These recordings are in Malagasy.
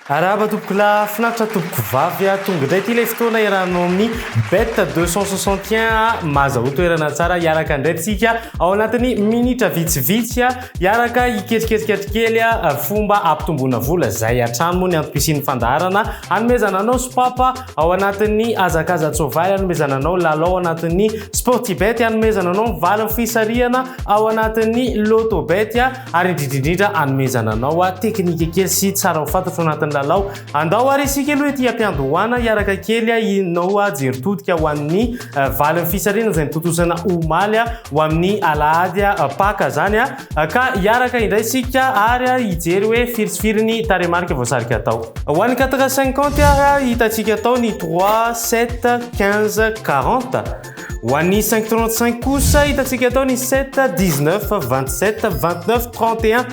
Arahaba tompoko la finaritra tompoko vavy a tonga indray ity ilay fotoana iarahanao amin'ny bet 261 a mazahoa toerana tsara hiaraka indray tsika ao anatin'ny minitra vitsivitsy a Hiaraka hiketriketrika kely fomba ampitomboana vola izay hatrany moa ny antom-pisian'ny fandaharana hanomezana anao sopapa ao anatin'ny hazakaza-tsoavaly hanomezana anao lalao ao anatin'ny sportibet hanomezana anao ny valin'ny fisarihana ao anatin'ny lotobet ary indrindrindrindra hanomezana anao teknika kely sy tsara ho fantatro anatin'ny lalao andao ary isika aloha ety ampiandohana hiaraka kely inao jerintodika ho an'ny Valin'ny fisarihana izay notontosana omaly ho amin'ny alahady Paka izany ka hiaraka indray isika ary hijery hoe firy sy firy ny tarehimarika voasarika atao. Ho an'ny quatre cinquante ary hitantsika atao ny trois, sept, quinze, quarante. Ho an'ny cinq trente cinq kosa hitantsika atao ny sept, dix neuf, vingt sept, vingt neuf, trente et un.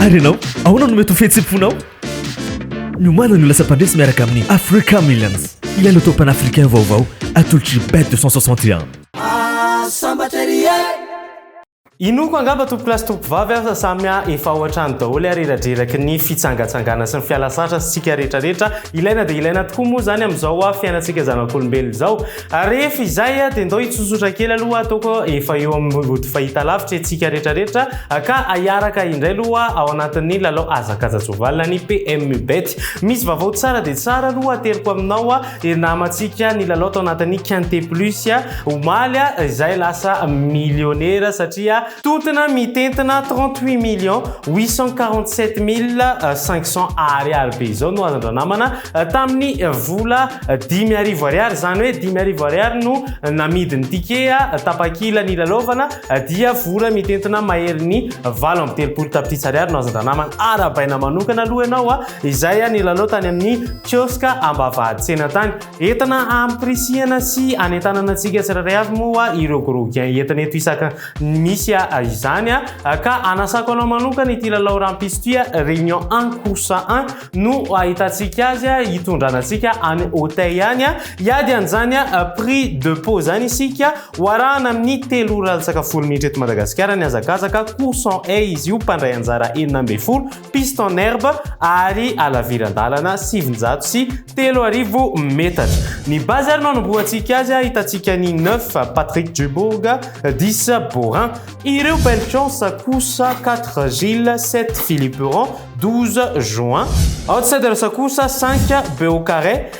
Ary ianao, ahoana no mety ho fihetsem-ponao? Miomana ny ho lasa mpandresy miaraka amin'ny Africa Millions, ilay loto panafricain vaovao atolotry Bet 261. Inoako angamba tompokolahy sy tompovavy aho fa samy efa ao an-trano daholo ary eradreraky ny fitsangatsangana sy ny fiala sasatra sy tsika rehetra rehetra. Ilaina dia ilaina tokoa moa izany amin'izao fiainantsika zanak'olombelona izao. Rehefa izay dia ndao hitsotsotra kely aloha ataoko efa eo amin'ny ody fahitalavitra antsika rehetra rehetra ka ahiaraka indray aloha ao anatin'ny lalao hazakazan-tsoavalona ny PMU Bet. Misy vavao tsara dia tsara aloha ateriko aminao. Dia namantsika ny lalao tao anatin'ny Quinte Plus omaly izay lasa millionnaire satria tontona mitentina 38 millions 847 mille 500 Ariary be izao no hazan-dranamana tamin'ny vola dimy arivo Ariary, izany hoe dimy arivo Ariary no namidy ny ticket tapakila nilalaovana dia vola mitentina maherin'ny valo amby telopolo tapitrisa Ariary no hazan-dranamana. Arahabaina manokana aloha ianao a! izay nilalao tany amin'ny kioska ambavahatsena tany. Entana ampirisihana sy anentanana antsika tsirairay avy moa ireo gros gain entina eto isaka ny misy izany ka anasako anao manokana ity lalao rampitso ity réunion 1 course 1 no ahitantsika azy hitondrana antsika any hotey any hiady an'izany prix de pot izany isika ho arahana amin'ny telo ora latsaka folo minitra eto Madagasikara ny hazakazaka course 1 izy io mpandray anjara enina ambin'ny folo piste en herbe ary halaviran-dalana sivinjato sy telo arivo metatra. Ny base ary no anombohantsika azy, ahitantsika ny neuf Patrick Dubourg, dix Borin. Ireo belle chance kosa, quatre Gilles, sept Philippe Rond, douze Join. Outsider kosa, cinq Beaucaret.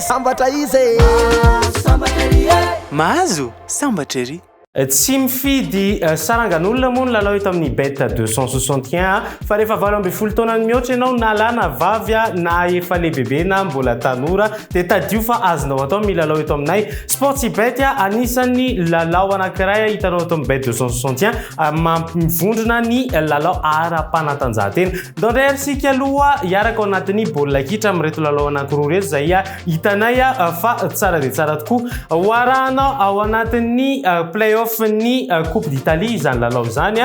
Sambatra izy e! Mahazo sambatra ery e! Mahazo sambatra ery! Tsy mifidy sarangan'olona moa ny lalao eto amin'ny Bet 261 fa rehefa valo ambin'ny folo taona ny mihoatra ianao na lahy na vavy na efa lehibebe na mbola tanora dia tadidio fa azonao atao ny milalao eto aminay Sportsybet anisan'ny lalao anankiray hitanao eto amin'ny Bet 261 mampivondrona ny lalao ara-panatanjahantena Nitondra hery sy ikaloha hiaraka ao anatin'ny baolina kitra amin'ireto lalao anankiroa ireto izay hitanay fa tsara dia tsara tokoa. Ho arahana ao anatin'ny play-off ny Coupe d'Italie izany lalao izany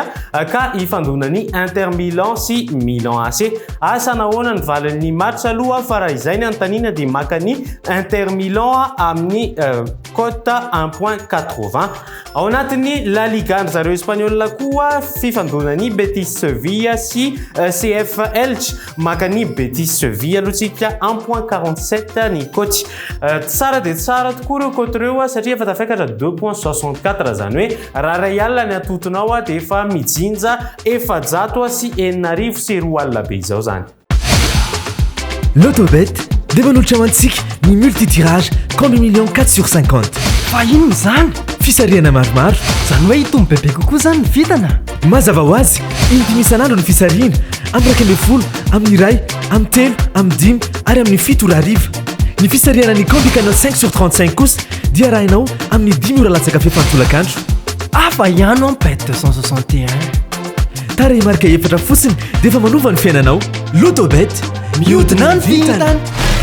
ka hifandona ny Inter Milan sy Milan AC. Asa nahoana ny valin'ny match aloha fa raha izay ny anontaniana dia maka ny Inter Milan amin'ny cote un point quatre-vingts. Ao anatin'ny La Liga-ndry zareo Espaniola koa, fifandonan'i Betis Sevilla sy CF Elche. Maka an'i Betis Sevilla aloha tsika en points 47 ny coach. Tsara dia tsara tokoa ireo cote ireo satria efa tafekatra deux points 64, izany hoe raha iray alina ny atotonao dia efa mijinja efajato sy enina arivo sy roa alina be izao izany. Lotobet dia manolotra ho antsika ny multitirage compte million 4 sur 50. Fa inona izany? Fisarihana maromaro. Izany hoe hitombo bebe kokoa izany ny vintana? Mazava ho azy, in-dimy isan'andro ny fisarihana, amin'ny iraika ambin'ny folo, amin'ny iray, amin'ny telo, amin'ny dimy ary amin'ny fito ora hariva. Ny fisarihana ny Candy Canal 5 sur 35 kosa dia arahinao amin'ny dimy ora latsaka fefany tolakandro. Hafa ihany an bet 261. Tarehimarika efatra fotsiny dia efa manova ny fiainanao. Lotobet, mihodina ny vintana.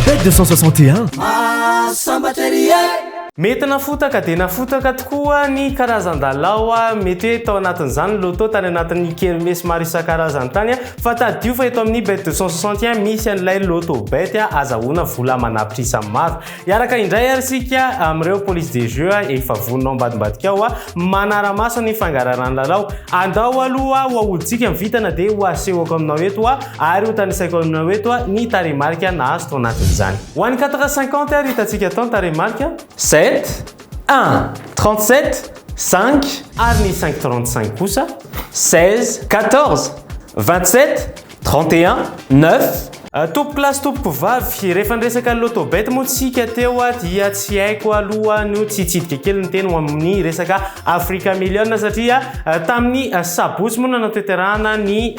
Bet 261. Mahasambatra ery e! Mety nafotaka dia nafotaka tokoa ny karazan-dalao, mety hoe tao anatin'izany ny loto tany anatin'ny kermesy maro isan-karazany tany, fa tadidio fa eto amin'ny Bet 261 misy an'ilay lotobet azahoana vola amanà prix samy maro. Hiaraka indray ary isika amin'ireo police des jeux efa vonona ao ambadimbadika ao manara-maso ny fangararan'ny lalao. Andao aloha ho ahodintsika ny vintana dia ho asehoko aminao eto ary ho tanisaiko aminao eto ny tarehimarika nahazo tao anatin'izany. Ho an'ny quatre cinquante ary hitantsika tao ny tarehimarika. Sept, un, trente-sept, cinq. Ary ny cinq trente-cinq kosa. Seize, quatorze, vingt-sept. 31 9. Tompoko lahy sy tompoko vavy, rehefa niresaka loto bet moa tsika teo dia tsy haiko aloha no tsy hitsidika kely ny teny ho amin'ny resaka Africa Million satria tamin'ny sabotsy moa no nanatanterahana ny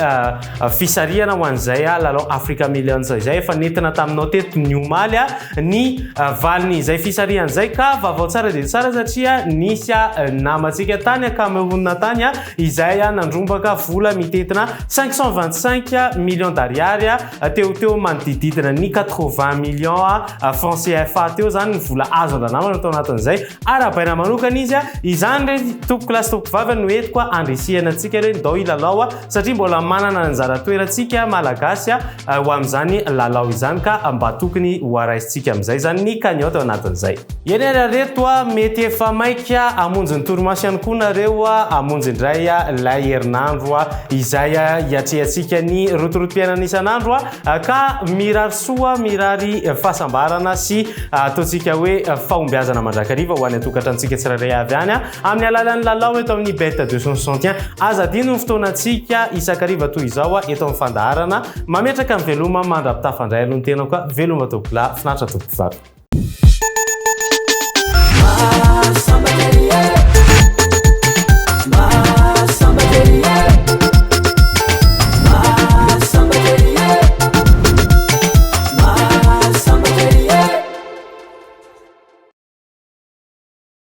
fisarihana ho an'izay lalao Africa Million izay efa nentina taminao teto ny omaly ny valin'izay fisarihana izay ka vaovao tsara dia tsara satria nisy namantsika tany Cameroun tany izay nandrombaka vola mitentina cinq cent vingt cinq millions d'ariary, teo ho teo manodidididina ny quatre vingt millions francs CFA teo izany ny vola azo andramana tao anatin'izay arahabaina manokana izy. Izany re tompokolahy sy tompokovavy no entiko handrisihana antsika re ndao hilalao satria mbola manana anjara toerantsika Malagasy. ho amin'izany lalao izany ka mba tokony ho araisintsika amin'izay izany ny cagnotte ao anatin'izay. Eny ary ry reto a, mety efa maika hamonjy ny torimaso ihany koa nareo a, hamonjy indray ilay herinandro izay hiatrehantsika ny rotorotom-piainana isan'andro a, ka mirary soa, mirary fahasambarana sy ataontsika hoe fahombiazana mandrakariva ho any an-tokantranontsika tsirairay avy any a. Amin'ny alalan'ny lalao eto amin'ny Bet 261, aza adino ny fotoanantsika isan-kariva toy izao eto amin'ny fandaharana Mametraka ny veloma mandra-pitafandray aloha ny tenako a! Veloma tompokolahy, finaritra tompokovavy.